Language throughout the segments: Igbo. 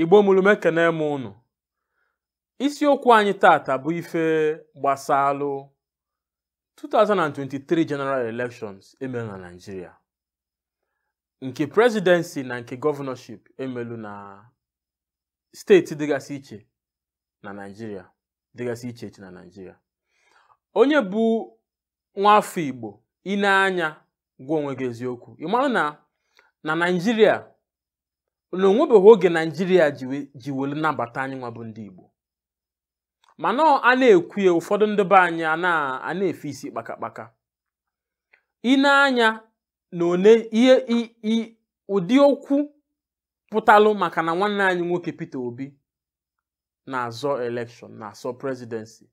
igbo mụrụ m ekenee m ụnụ isiokwu anyị taata bụ ife gbasalụ 2023 general elections e melu na Naịjirịa nke presidency na nke governorship e melu na steeti dịgasị iche na Naịjirịa dịgasị iche iche na Naịjirịa onye bụ nwaafọ Igbo i nee anya gwa onwe gị eziokwu ị malụ na na Naịjirịa na o nwebeghị oge naijiria ji welu nabata anyị nwa bụ ndị igbo mana a na-ekwu ya ụfọdụ ndị be anyị ana-efe isi kpakakpaka i nee anya na one ihe ụdị okwu pụtalụ maka na nwanne anyị nwoke Peter Obi na-azọ election na-azọ presidency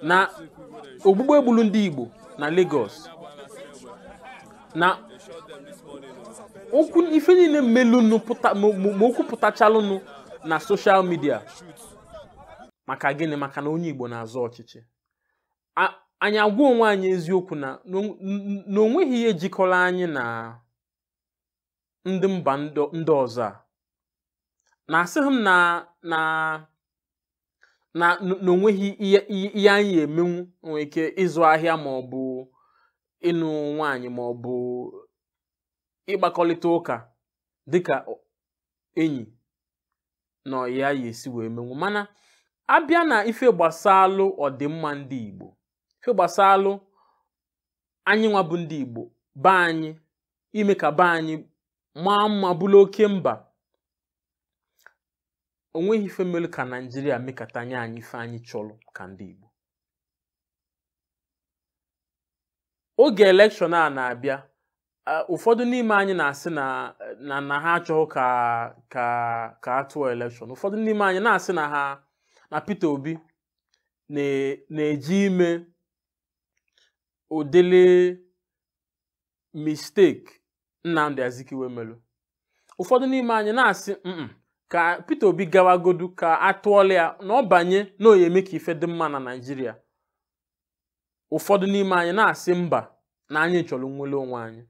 na ogbugbu e gbulu ndị Igbo na Lagos na okwu ife niile melụnụ pụta ma ma- ma okwu pụtachalụnụ na social media maka gịnị maka na onye Igbo na-azọ ọchịchị A- anyị agwa onwe anyị eziokwu na na o- n- na o nweghị ihe jikọlụ anyị na ndị mba ndị ọzọ a na asịghị m na na na na o nweghị ihe ihe anyị emenwu nwere ike ịzụ ahịa ma ọ bụ ịnụ nwaanyị ma ọ bụ ịgbakọlịta ụka dịka enyi na ọyị ya esi wee menwu mana a bịa na ife gbasalụ ọdịmma ndị Igbo ife gbasalụ anyị nwa bụ ndị Igbo be anyị ime ka be anyị maa mma bụrụ oke mba o nweghị ife melụ ka Naijiria mekata nye anyị ife anyị chọlụ ka ndị Igbo oge election a na-abịa ụfọdụ n'ime anyị na-asị na na na ha achọghị ka ka ka a tụọ election ụfọdụ n'ime anyị na-asị na na Peter Obi na-eje ime ụdịrị mistake Nnamdi Azikiwe melụ ụfọdụ n'ime anyị na-asị "Mm-mm, ka Peter Obi gawagodu ka a tụọlụ ya na ọ banye na ọ ya-eme ka ife dị mma na Naịjirịa ụfọdụ n'ime anyị na-asị mba na anyị chọrọ nnwelu onwe anyị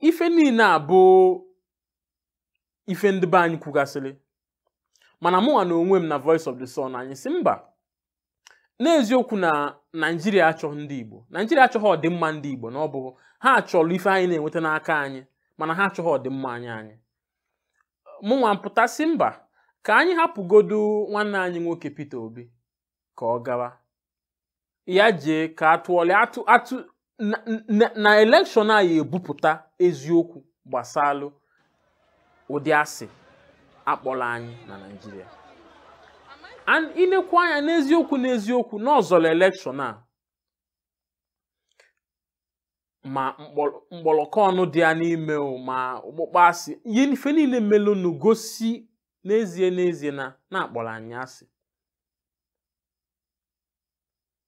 ife niine a bụ ife ndị be anyị kwugasịrị mana mụnwa na onwe m na Voice of the Sun anyị sị mba n'eziokwu na naijiria achọghị ndị igbo naijiria achọghị ọdịmma ndị igbo na ọ bụ ha chọlụ ife anyị na-enweta n'aka anyị mana ha achọghị ọdịmma anyị anyị mụnwa m pụta sị mba ka anyị hapụgodu nwanne anyị nwoke Peter Obi ka ọ gawa ya jee ka a tụọlụ ya tụ atụ na- na- na elekshọn a ya ebupụta eziokwu gbasalụ ụdị asị a kpọrọ anyị na naijiria and i nekwu anya n'eziokwu n'eziokwu n'ọ zọrọ elekshọn a ma mkpọrọ- mkpọrọkọ ọnụ dị ya n'ime o ma ọkpụkpọ asị ihe ife niile melụnụ gosi n'ezie n'ezie na na a kpọrọ anyị asị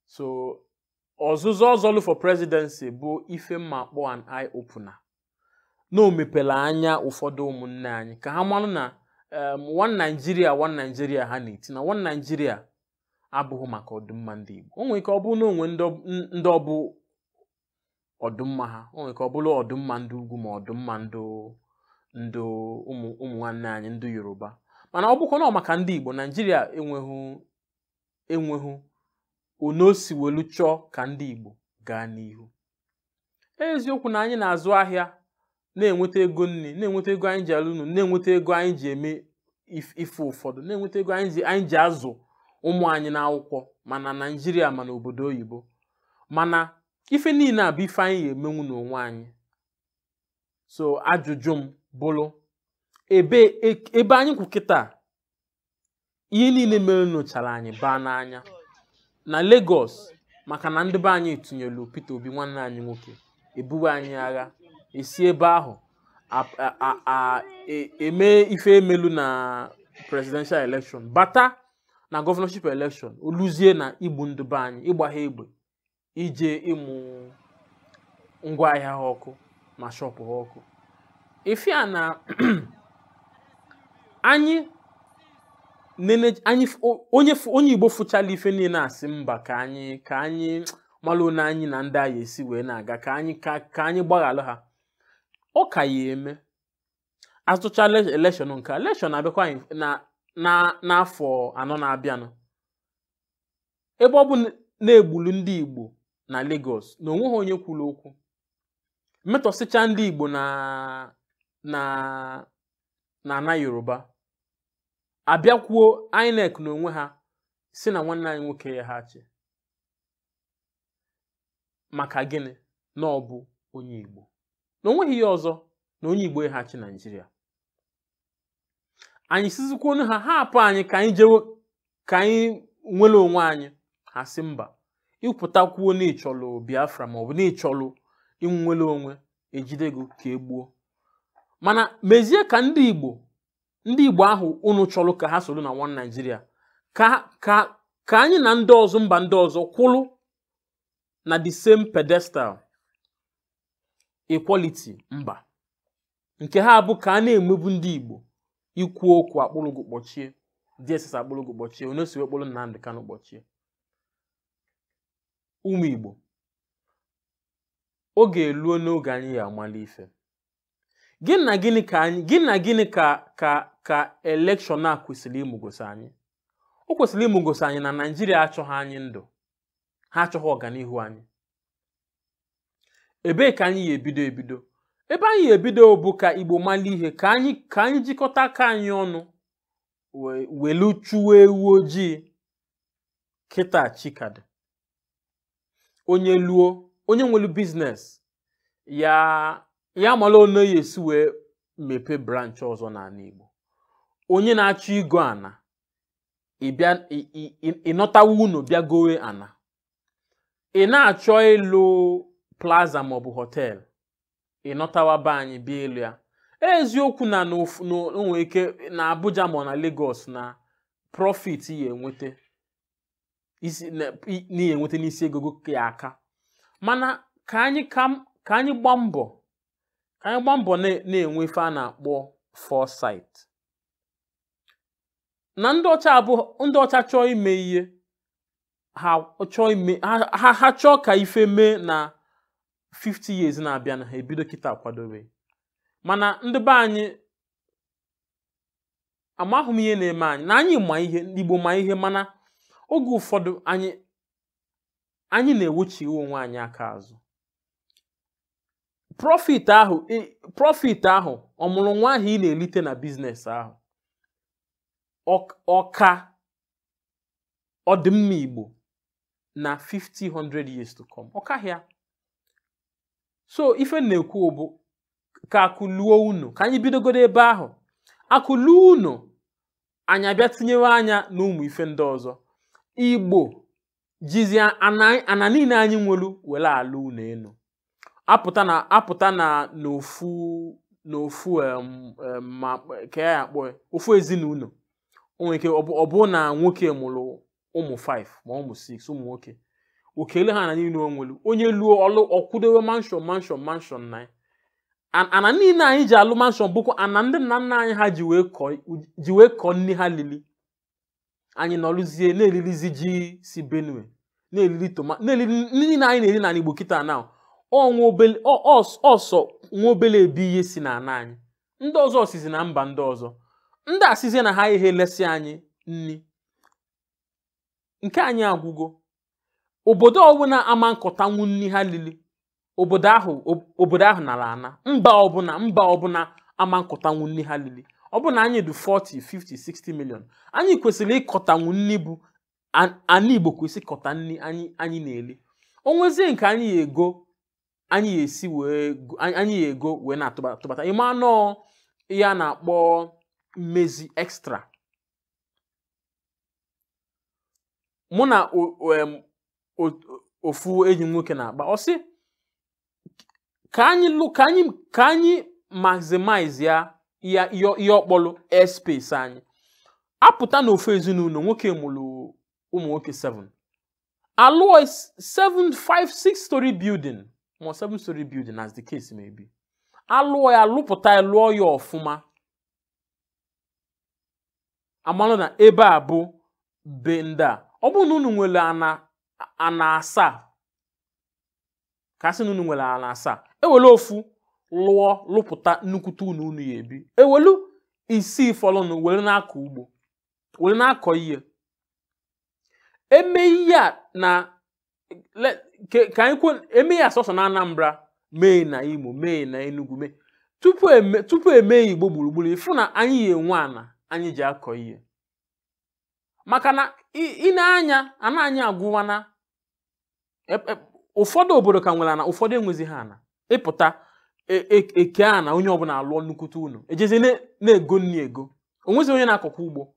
so ọzụzọ ọ zọlụ for presidency bụ ife m ma-akpọ an eye opener na o mepere anya ụfọdụ ụmụnne anyị ka ha marụ na em, one Nigeria one Nigeria ha na-eti na one Nigeria abụghị maka ọdịmma ndị Igbo o nwere ike ọ bụrụ na o nwe ndị ọ- n- ndị ọ bụ ọdịmma ha o nwere ike ọ bụrụ ọdịmma ndị ugwu ma ọdịmma ndị ndị ụmụ ụmụ nwanne anyị ndị Yoruba mana ọ bụkwa na ọ maka ndị Igbo Naijiria enweghị enweghị one o si welu chọọ ka ndị Igbo gaa n'ihu eziokwu na anyị na-azụ ahịa na-enweta ego nni na-enweta ego anyị ji alụ ụnọ na-enweta ego anyị ji eme ife ụfọdụ na-enweta ego anyị ji azụ ụmụ anyị n'akwụkwọ ma na naijiria ma na obodo oyibo mana ife niile a bụ ife anyị ga-emenwu n'onwe anyị so ajụjụ m bụlụ ebe e, ebe anyị kwụ kịta ihe niile melunụ chara anyị baa n'anya na Lagos maka na ndị be anyị tụnyelu Peter Obi nwanne anyị nwoke e buwe anyị agha e si ebe ahụ a- a- a- a- e- eme ife e melu na presidential election bata na governorship election o luzie na igbu ndị be anyị ịgba ha egbe ije ịmụ ngwa ahịa ha ọkụ ma shọpụ ha ọkụ ife a na anyị nene anyị f- o- onye f- onye igbo fụchala ife niile asị mba ka anyị ka anyị malụ one anyị na ndị a ya-esi wee na-aga ka anyị ka ka anyị gbaghalụ ha ọ ka ya-eme a zọchala elekshọn nke a, elekshọn na-abịakwa anyị na na n'afọ anọ na-abịanụ ebe ọ bụ na e gbulu ndị Igbo na Lagos na o nweghị onye kwuru okwu metọsịcha ndị Igbo na na na ana Yoruba a bịakwuo INEC na onwe ha sị na nwanne anyị nwoke ya ha achị maka gịnị na ọ bụ onye Igbo na o nweghị ihe ọzọ na onye Igbo ị ha achị Naijiria anyị sịzikwanụ ha hapụ anyị ka anyị jewe ka anyị nwere onwe anyị ha sị mba ị pụta kwuo na ị chọlụ biafra maọbụ na ị chọlụ inwere onwe e jide gị ka e gbuo mana mezie ka ndị igbo ndị igbo ahụ unu chọrọ ka ha soro na one naijiria ka ka ka anyị na ndị ọzọ mba ndị ọzọ kwụrụ na the same pedestal equality mba nke ha bụ ka a na-emebu ndị Igbo i kwuo okwu a kpụrụ gị kpọchie DSS akpụrụ gị kpọchie onye e si wee kpụrụ Nnamdị Kanụ kpọchie ụmụ Igbo oge eluona oge anyị ya-amalụ ife gịnị na gịnị ka anyị gịnị na gịnị ka ka ka elekshọn a kwesịrị imegosi anyị o kwesịrị imegosi anyị na Naịjirịa achọghị anyị ndụ ha achọghị ọganihu anyị ebee ka anyị ya ebido ebido ebe anyị ya ebido bụ ka igbo malụ ihe ka anyị ka anyị jikọta aka anyị ọnụ we- welu chụwa ewu ojii kịta chi ka dị onye luo onye nwere biznes ya ya mara onye ya esi wee mepee branch ọzọ n'ana igbo onye na-achọ igo ana ịbịa ị- ị- ị- ị nọtawa ụnọ bịa gowe ana ị na-achọ ịlụ plaza maọbụ họteelụ ị nọtawa be anyị bịa ịlụ ya eziokwu na o nwee ike na Abuja ma na Lagos na profit ị ya-enweta n'ihi enweta n'isi ego ya-aka mana ka anyị ka anyị gbaa mbọ ka anyị gbaa mbọ na-enwe ife a na-akpọ foresight na ndị ọcha chọọ ime ihe ha chọọ ime ha ha- ha chọọ ka ife mee na 50 years na-abịanụ ha ebido kịta kwadobe mana ndị be anyị amaghị m ihe na-eme anyị na anyị ma ihe ndị Igbo ma ihe mana oge ụfọdụ anyị anyị na-ewechigha onwe anyị aka azụ profit ahụ ị- profit ahụ ọmụrụ nwa ahụ ị na-elite na biznes ahụ ọ- ọ ka ọdịmma Igbo na 50-100 years to come ọ kaghị ya so ife m na-ekwu bụ ka akụ luo ụnọ ka anyị bidogodo ebe ahụ akụ luo ụnọ anyị abịa tinyewe anya na ụmụ ife ndị ọzọ Igbo jizi ana niine anyị nwelu were alụ ụnọ enu apụta na apụta na n'ofu n'ofu em, em, ma ka ya akpọ ya, ofu ezinụlọ o nwere ike ọ bụ- ọ bụrụ na nwoke mụrụ ụmụ 5 ma ụmụ 6 ụmụ nwoke o kele ha ana niile o nwere onye luo ọlụ ọ kwụdowe mansion mansion mansion na ya An- ana niile anyị ji alụ mansion bụkwa ana ndị nna nna anyị ha ji wee kọọ ji wee kọọ nri ha lili anyị nọrụzie na-eririzi ji si benue na-eriri tomato na-eriri nri niile anyị na-eri n'ala igbo kịta na ọ sọ nwa obele ebe ihe si n'ala anyị ndị ọzọ sizi na mba ndị ọzọ ndị a sịzie na ha ihe lesị anyị nri nke anyị agwụgo obodo ọbụla ama nkọtanwu nri ha lili obodo ahụ ob- obodo ahụ nara ana mba ọbụla mba ọbụla ama nkọtanwu nri ha lili ọ bụ na anyị dị 40 50 60 million anyị kwesịrị ịkọtanwu nri bụ an- ana igbo kwesị ịkọta nri anyị anyị na-eli o nwezie nke anyị ya ego anyị ya esi wee go- anyị anyị ya ego wee na-atụbata atụbata ị ma nọọ ihe a na-akpọ mmezi extra mụ na ofu enyi m nwoke na-akpa ọ sị ka anyị lụ ka anyị ka anyị maximize ya ya ihe ọ kpọlụ airspace anyị apụta na ofu ezinụlọ nwoke mụrụ ụmụ nwoke 7 alụọ 7 5 6 story building ma 7 story building as the case may be alụọ ya lụpụta ya lụọ ya ọfụma a malụ na ebe a bụ be ndị a ọ bụrụ na unu nwere ana ana asaa ka a sị na unu nwere ana asaa ewelu ofu lụọ lụpụta nnukwute ụnọ unu ya ebi ewelu isii fọlụnụ were na-akọ ugbo were na-akọ ihe eme ihe a na le- ke- ka anyị kwe eme ya sọsọ na anambra mee na imo mee na enugu mee tupu eme tupu emee igbo gburugburu ị fụ na anyị ya enwe ana anyị ji akọ ihe maka na ị- i nee anya ana anyị agwụwa na e- e- ụfọdụ obodo ka nwere ana ụfọdụ enwezi ha ana ị pụta e- e- ekee ana onye ọbụla alụọ nnukwute ụlọ ejezi na- na-ego nri ego o nwezi onye na-akọkwa ugbo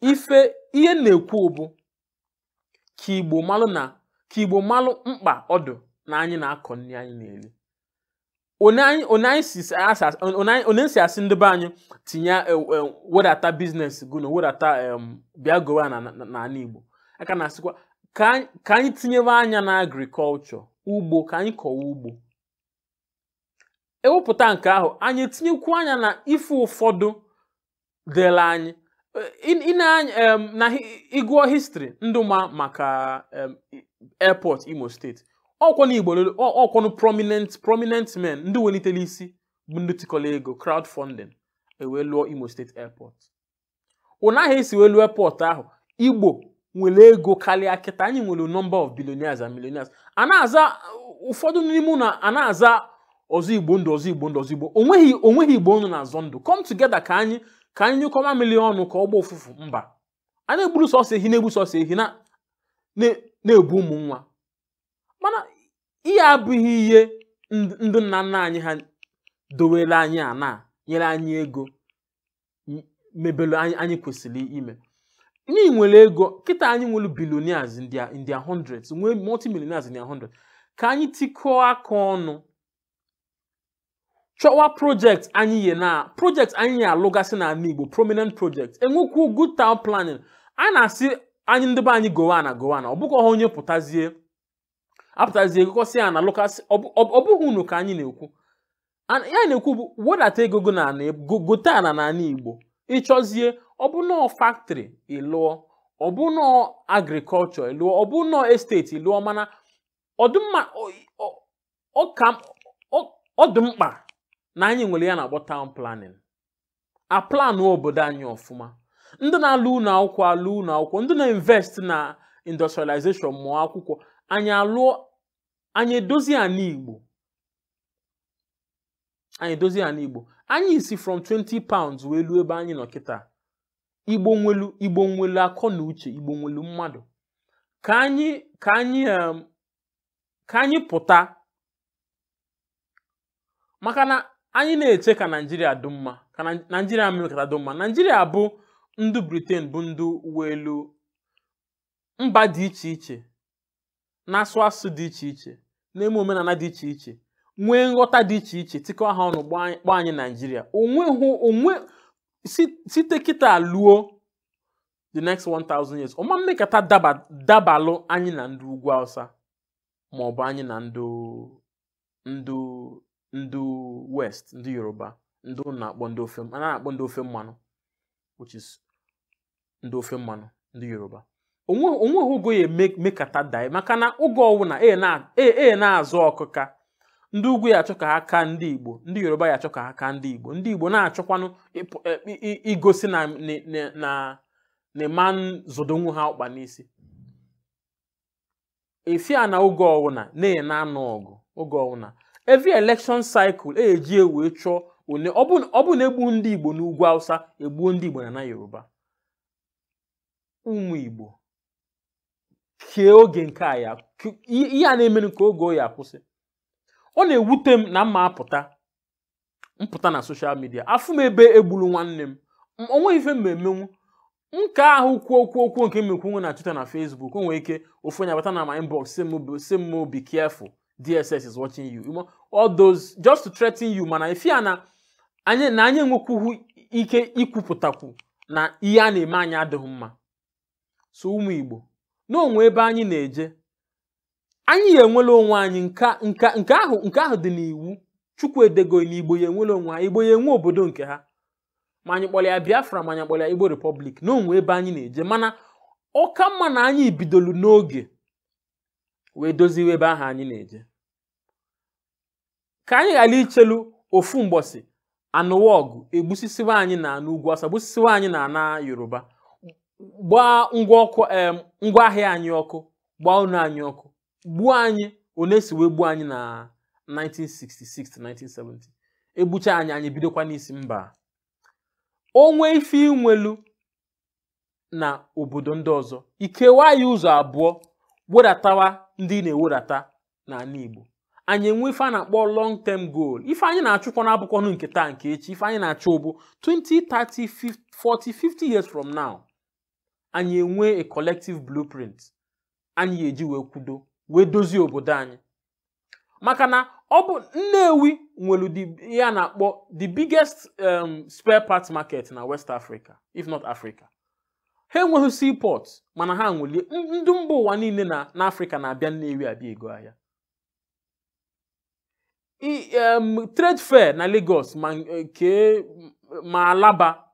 ife ihe m na-ekwu bụ ka igbo malụ na ka igbo malụ mkpa ọ dụ na anyị na-akọ nri anyị na-eri onye si asị ndị be anyị tinye e, e, wedata business gụ na wedata bịa gowa n'ala igbo a ka na-asịkwa ka anyị tinyebe anya na agriculture ugbo ka anyị kọwa ugbo ewepụta nke ahụ anyị etinyekwu anya na ife ụfọdụ dịla anyị na ị gụọ history ndị ma maka airport imo state ọ kwanụ igbo ọ kwanụ prominent prominent men ndị welitere isi bụ ndị tikọrọ ego crowdfunding e wee lụọ imo state airport ụnahụ esi wee lụọ airport ahụ igbo nwere ego karịa kịta anyị nwere number of billionaires and millionaires a na-aza ụfọdụ n'ime na a na-aza ọzọ igbo ndụ ọzọ igbo ndụ ọzọ igbo onweghị onweghị igbo ndụ na-azọ ndụ come together ka anyị ka anyị nyụkọ mamịlị ọnụ ka ọ gba ụfụfụ mba a na-egburu sọsọ ehi na-egbu sọsọ ehi na-ebu ụmụ nwa mana ihe a abụghị ihe ndị nna nna anyị ha dowere anyị ana nyere anyị ego mebelu anyị anyị kwesịrị ime anyị nwere ego kịta anyị nwere billionaires in their in their hundreds nwee multimillionaires in their hundreds ka anyị tikọọ aka ọnụ chọwa project anyị yi na project anyị ya-alụgasị n'ana Igbo prominent project enwekwu good town planning a na-asị anyị ndị be anyị gowa ana gowa ana ọ bụkwa ha onye pụtazie apụtazie gokọsịa ana lokasị ọ bụghị unu ka anyị na-ekwu An- ihe a na-ekwu bụ wedata ego gị na ana go- gote ana na ana igbo ị chọzie ọ bụ nọọ factory ị lụọ ọ bụ nọọ agriculture ị lụọ ọ bụ nọọ estate ị lụọ mana ọ dị mma ọ- ọ- ọ ka m- ọ- ọ dị mkpa na anyị nwere ihe a na-akpọ town planning a planụọ obodo anyị ọfụma ndị na-alụ ụlọ akwụkwọ alụọ ụlọ akwụkwọ ndị na-invest na industrialization ma ọ akwụkwọ anyị alụọ anyị edozie ana igbo anyị edozie ana igbo anyị si from 20 pounds wee luo ebe anyị nọ kịta igbo nwelu igbo nwelu akọ na uche igbo nwelu mmadụ ka anyị ka anyị em, ka anyị pụta maka na anyị na-eche ka naijiria dị mma ka naijiria mekata dị mma naijiria bụ ndị britain bụ ndị welu mba dị iche iche na-asụ asụ dị iche iche na-eme omenana dị iche iche nwee nghọta dị iche iche tikọ ha ọnụ kpọọ anyị naijiria onweghị onwe site kịta luo the next 1000 years ọ ma mekata daba- dabalụ anyị na ndị ugwu awụsa ma ọ bụ anyị na ndị ndị ndị west ndị yoruba ndị ụnụ na-akpọ ndị ofe a na-akpọ ndị ofe mmanụ which is ndị ofe mmanụ ndị yoruba onwe- onweghị oge ọ ya-eme- mekata daị maka na oge ọwụna e na- e- e na-azụ ọkụka ndị ugwu ya achọ ka ha kaa ndị igbo ndị yoruba ya achọ ka ha kaa ndị igbo ndị igbo na-achọkwanụ ịpụ- e- i- i- igosi na na- na- na na ị ma zọdonwu ha ọkpa n'isi ife a na oge ọwụna anyị na-anụ ọgụ oge ọwụna every election cycle eji ewe chọọ one ọ bụ ọ bụ na egbu ndị igbo n'ugwu hausa egbuo ndị igbo na ana yoruba ụmụ igbo kee oge nke a ya ke- ihe ihe a na-emere kee oge ọ ya-akwụsị ọ na-ewute m na mma apụta m pụta na social media afụ m ebe egburu nwanne m M- o nweghị ife m emenwu nke ahụ kwuo okwu okwu nke m ekwu na twitter na facebook o nwere ike ofu onye abata na my inbox sị m be- sị m be careful dss is watching you You know, all those just to threaten you mana ife ya na anyị na anyị enwekwughị ike ikwupụtakwu na ihe a na-eme anyị adịghị mma so ụmụ igbo na o nwee ebe anyị na-eje anyị ya enwere onwe anyị nka nka nke ahụ nke ahụ dị n'iwu chukwu edego ya na igbo ya enwere onwe ha igbo ya enwe obodo nke ha ma anyị kpọrọ ya biafra ma anyị kpọrọ ya igbo republic na o nwee ebe anyị na-eje mana ọ ka mma na anyị bidolu n'oge wee doziwe ebe ahụ anyị na-eje ka anyị ghara ichelu ofu mbọsị a nụwa ọgụ egbusisiwa anyị na ana ugwu awụsa gbusisiwa anyị na ana yoruba gbaa ngwa ọkụ em ngwa ahịa anyị ọkụ gbaa ụnọ anyị ọkụ gbuo anyị one si wee gbuo anyị na 1966 to 1970 egbucha anyị anyị bidokwa n'isi mba o nwee ife i nwelu na obodo ndị ọzọ i kewaa ya ụzọ abụọ wedatawa ndị ị na-ewedata na ana Igbo anyị enwe ife a na-akpọ long term goal ife anyị na-achụkwa na abụkwanụ nke taa nke echi ife anyị na-achụ bụ 20 30 40 50 years from now anyị enwe a collective blueprint anyị ya-eji wee kwudo wee dozie obodo anyị maka na ọ bụ Nnewi nwere the- ihe a na-akpọ the biggest um, spare parts market na West Africa if not Africa ha enweghị seaport mana ha nwelie n- ndị mba ụwa niile na n'Africa na-abịa Nnewi abịa ego ahịa I- um, trade fair na Lagos ma nke ma Alaba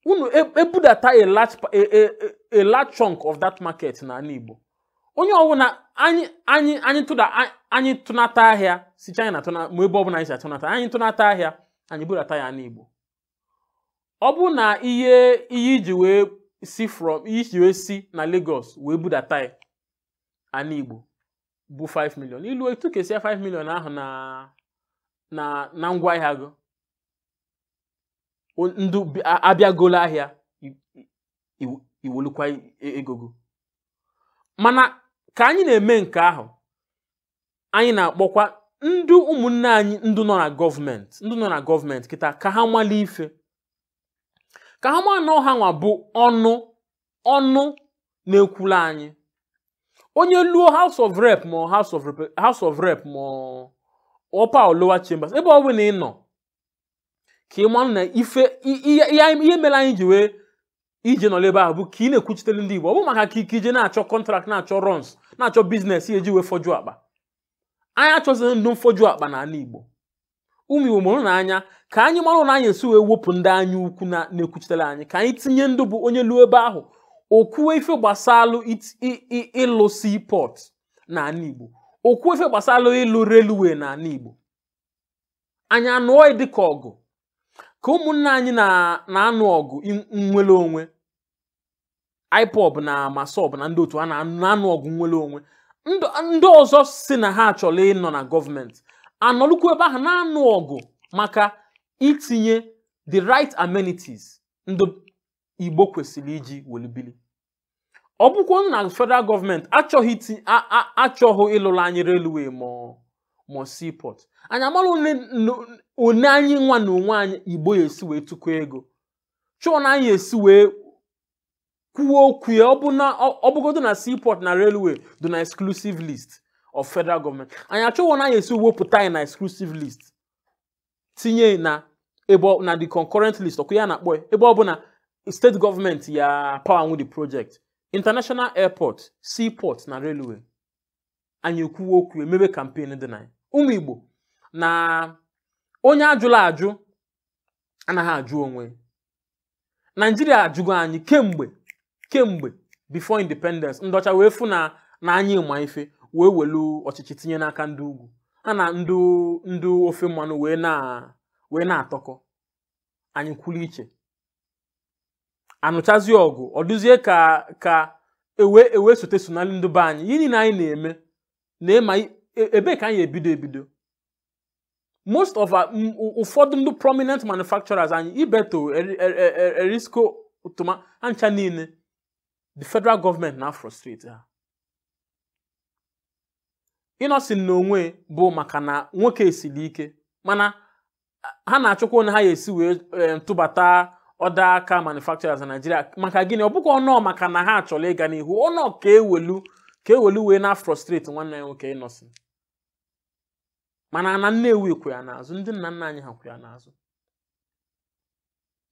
unu e- ebudata a large pa- a- a- a- a large chunk of that market n'ana Igbo onye ọbụna anyị anyị anyị tụda a- anyị tụnata ahịa si China tụna ma ebe ọbụla anyị si atụnata anyị tụnata ahịa anyị budata ya ana Igbo ọ bụ na ihe ihe i ji wee si from ihe i ji wee si na Lagos wee budata ya ana Igbo bụ 5 million i lute i kesie 5 million ahụ na na na ngwa ahịa gị ndụ abịagolo ahịa iwelukwa egogo mana ka anyị na-eme nke ahụ anyị na-akpọkwa ndị ụmụnne anyị ndị nọ na gọọmenti ndị nọ na gọọmenti kịta ka ha mali ife ka ha mara na ọ ha nwa bụ ọnụ ọnụ na-ekwulu anyị onye luo house of rep ma house of Rep- house of rep ma upper or lower chambers ebe ọ bụla ị nọ ka ị mara na ife i- ihe ihe- ihe mere anyị ji wee i je nọrọ ebe ahụ bụ ka ị na-ekwuchitere ndị igbo ọ bụ maka ka ị ka i je na-achọ kọntrakt na-achọ runs na-achọ biznes ị ya-eji wee fọjuo akpa anyị achọzighị ndụ mfọju akpa n'ala igbo ụmụ Igbo mụrụnụ anya ka anyị mara one anyị esi wee wepụ ndị anya ukwu na- na-ekwuchitere anyị ka anyị tinye ndụ bụ onye luo ebe ahụ o kwuwe ife gbasalụ it- i- i- ịlụ seaport n'ala igbo o kwuwe ife gbasalụ ịlụ railway n'ala igbo anyị anụọ ya dịka ọgụ ka ụmụnna anyị na- na-anụ ọgụ in- nnwere onwe IPOB na MASSOB na ndị otu a na-anụ ọgụ nnwere onwe ndị ọzọ si na ha achọrọ ịnọ na gọọmenti anọlụkwu ebe ahụ na-anụ ọgụ maka itinye the right amenities ndị Igbo kwesịrị iji welu bili ọ bụkwa na federal gọọmenti achọghị achọghị ịlụrụ anyị railway ma ma seaport anyị amara one anyị nwa na onwe anyị igbo ya-esi wee tụkọ ego chọọ one anyị ya-esi wee kwuo okwu ya ọ bụgodo na seaport na railway dị na exclusive list of federal government anyị achọọ one anyị esi wepụta ya na exclusive list tinye na ebe na the concurrent list ọkụ ya na-akpọ ya ebe ọ bụ na steeti gọọmenti ya power nwe the project international airport seaport na railway anyị ekwuwe okwu emebe kampen dị na ya ụmụ igbo na onye a jụlụ ajụ anaghị ajụ onwe naijiria ajụgo anyị kemgbe kemgbe before independence ndị ọcha wee fụ na na anyị ma ife wee welu ọchịchị tinye n'aka ndị ugwu ha na ndị ndị ofe mmanụ wee na wee na-atọkọ anyị kwụrụ iche a nụchazi ọgụ ọ dụzie ka ka e wee e wee sote sonali ndị be anyị ihe niile anyị na-eme na ịma i- e- ebee ka anyị ebido ebido most of our m- ụ- ụfọdụ ndị prominent manufacturers anyị ibeto Eri- Eri- Eri- erisco toma ha ncha niile the federal government na-afrustrate ha Innoson n'onwe bụ maka na nwoke esiri ike mana ha na-achọkwa one ha ya-esi wee eh, tụbata other car manufacturers na Nigeria maka gịnị ọ bụkwa ọnọ maka na ha achọrọ ịga n'ihu ọnọ ka e welu ka e welu wee na-afrustrate nwanne anyị nwoke Innoson mana ana Nnewi kwụ ya n'azụ ndị nna nna anyị ha kwụ ya n'azụ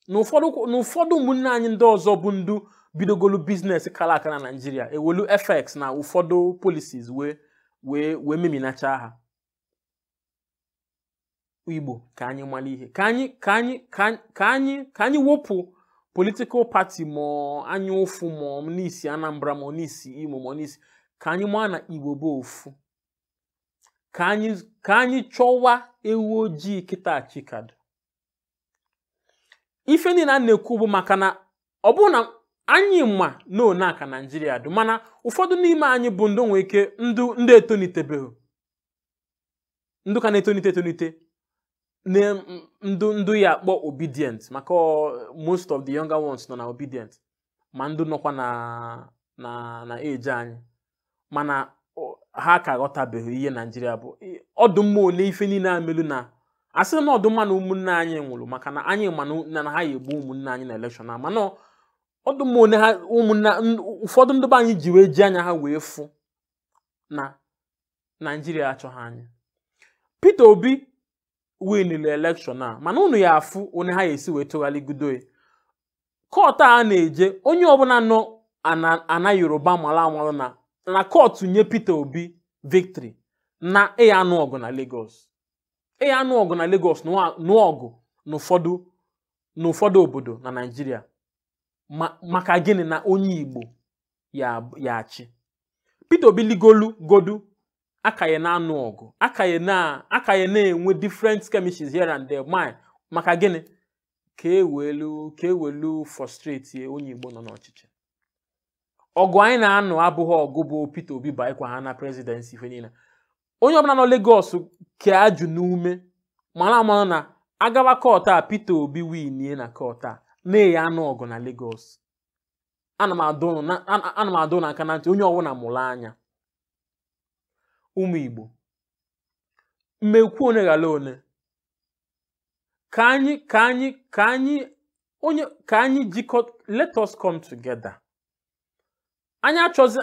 na ụfọdụ kwụ- na ụfọdụ ụmụnne anyị ndị ọzọ bụ ndụ bidogolu business kala aka na naijiria e welu fx na ụfọdụ policies wee wee wee meminacha ha igbo ka anyị mara ihe ka anyị ka anyị ka anyị- ka anyị ka anyị wepụ political party ma anya ụfụ ma na i si anambra ma na i si imo ma na i si ka anyị maa na igbo bụ ofu ka anyị ka anyị chọwa ewu ojii kịta chi ka dụ ife niile a na-ekwu bụ maka na ọ bụrụ na anyị ma na one aka naijiria dị mana ụfọdụ n'ime anyị bụ ndị nwere ike ndụ ndị etonitebeghị ndụ ka na-etonite etonite na ndụ ndụ ya akpọ obidient maka ọ- most of the younger ones nọ na obidient ma ndị nọkwa na na na age anyị mana ọ- ha ka ghọtabeghị ihe naijiria bụ I- ọ dụ mma one ife niile a melu na a sị na ọ dụ mma na ụmụnne anyị nwụrụ maka na anyị ma na na ha ya egbu ụmụnne anyị na election a mana ọ- ọ dụ mma one ha ụmụnne n- ụfọdụ ndị be anyị ji wee ji anya ha wee fụ na naijiria achọghị anyị peter obi winili election a mana unu ya afụ one ha ya esi wee tụgharịgodu ya court a na-eje onye ọbụla nọ ana ana yoruba malụ amalụ na na court nye peter obi victory na a ya anụ ọgụ na lagos a ya anụ ọgụ na lagos nụọ nụọ ọgụ n'ụfọdụ n'ụfọdụ obodo na naijiria ma maka gịnị na onye igbo ya ya achị peter obi ligolu godu a ka ya na-anụ ọgụ a ka ya na a ka ya na-enwe different skirmishes here and there ma maka gịnị ka e welu ka e welu frustrate onye Igbo nọ n'ọchịchị ọgụ anyị na-anụ abụghị ọgụ bụ Peter Obi banyekwaa na presidency ife niile onye ọbụla nọ Lagos ka ajụ n'ume mara amara na a gaba court a Peter Obi winie na court a na a ya anụ ọgụ na Lagos ana m adụ aka na ntị onye ọbụla mụlụ anya ụmụ Igbo mmekwu one ghara one ka anyị ka anyị ka anyị onye ka anyị jikọọ let us come together anyị achọzi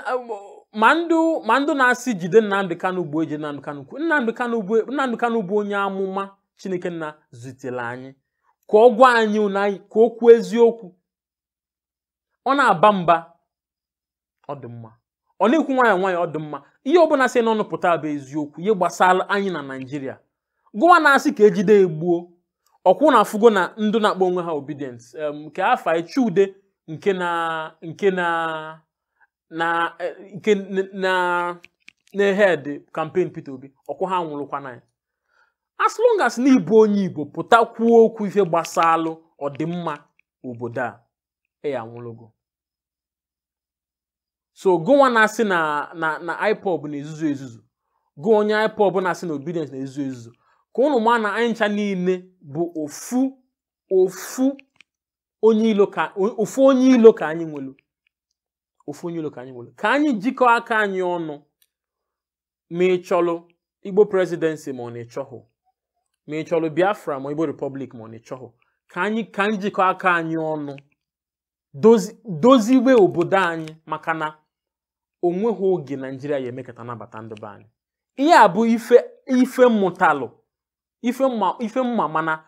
ma ndị ma ndị na-asị jide Nnamdi Kanu bụ eji Nnamdi Kanu kwu Nnamdi Kanu bụ Nnamdi Kanu bụ onye amụma Chineke Nna zitelu anyị ka ọ gwa anyị na anyị ka o kwuo eziokwu ọ na-aba mba ọ dị mma ọ na-ekwu nwayọ nwayọ ọ dị mma ihe ọbụla si n'ọnụ pụta bụ eziokwu ihe gbasalụ anyị na naijiria gụwa na-asị ka e jide ya gbuo ọ kwa ụnụ afụgo na ndị na-akpọ onwe ha obidients em, nke afa ya Chude nke na nke na na eh, nke n- na na head campaign Peter Obi ọ kwa ha nwụlụkwanụ ya as long as na ị bụ onye Igbo pụta kwuo okwu ife gbasalụ ọdịmma obodo a e ya-anwụlụ gị so gụwa na-asị na na na ipob na-ezuzu ezuzu gụ onye ipob na-asị na obidients na-ezuzu ezuzu ka ụnụ maa na anyị ncha niine bụ ofu ofu onye ilo ka ofu onye ilo ka anyị nwelu ofu onye ilo ka anyị nwelu ka anyị jikọọ aka anyị ọnụ ma ị chọlụ igbo presidency ma ọ na ị chọhụ ma ị chọlụ biafra ma igbo republic ma ọ na ị chọhụ ka anyị ka anyị jikọọ aka anyị ọnụ dozi- doziwe obodo anyị maka na o nwehụ oge naijiria ya-emekata nabata ndị be anyị ihe a bụ ife ife m mụtalụ ife m ma ife m ma mana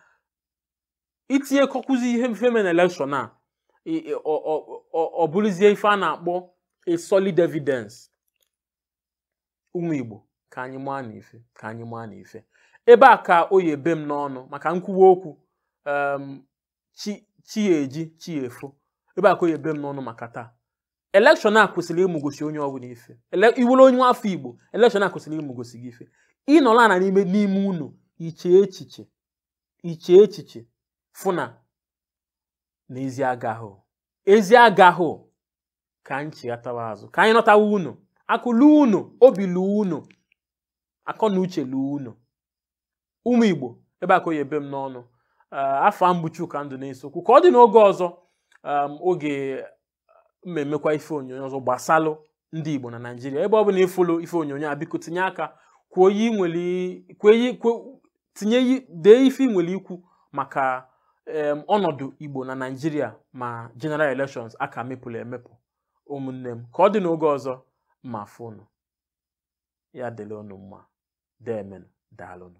i tinyekọkwuzi ihe ife mere na elekshọn a i- i- ọ- ọ- ọ- ọ bụlụzie ife a na-akpọ a solid evidence ụmụ Igbo ka anyị maa na ife ka anyị maa na ife ebe a ka ọ ya-ebe m n'ọnụ maka m kwuwa okwu em, chi chi ya-eji chi ya-efo ebe a ka ọ ya-ebe m n'ọnụ maka taa elekshọn a kwesịrị ịmụgosi onye ọbụla ife Ele- ị bụlụ onye nwa afọ Igbo elekshọn a kwesịrị ịmụgosi gị ife ị nọlụ ana n'ime n'ime ụnọ i chee echiche i chee echiche fụ na na ezi agahụ ezi agahụ ka anyị chighatawa azụ ka anyị nọtawa ụnọ akụ luo ụnọ obi luo ụnọ akọ na uche luo ụnọ ụmụ igbo ebe a ka ọ ya-ebe m n'ọnụ Ah, afa m bụ Chuka Nduneseokwu ka ọ dị n'oge ọzọ um, oge m emekwa ife onyonyo ọzọ gbasalụ ndị igbo na naijiria ebe ọ bụla ị fụlụ ife onyonyo a biko tinye aka kwuo ihe ị nwere i- kwuo ihe- kwuo- tinye i- dee ife ị nwere ikwu maka em, ọnọdụ igbo na naijiria ma general elections a ka mepụlụ emepụ ụmụnne m ka ọ dị n'oge ọzọ m afụ unu ya dịrị unu mma deemenụ daalụnụ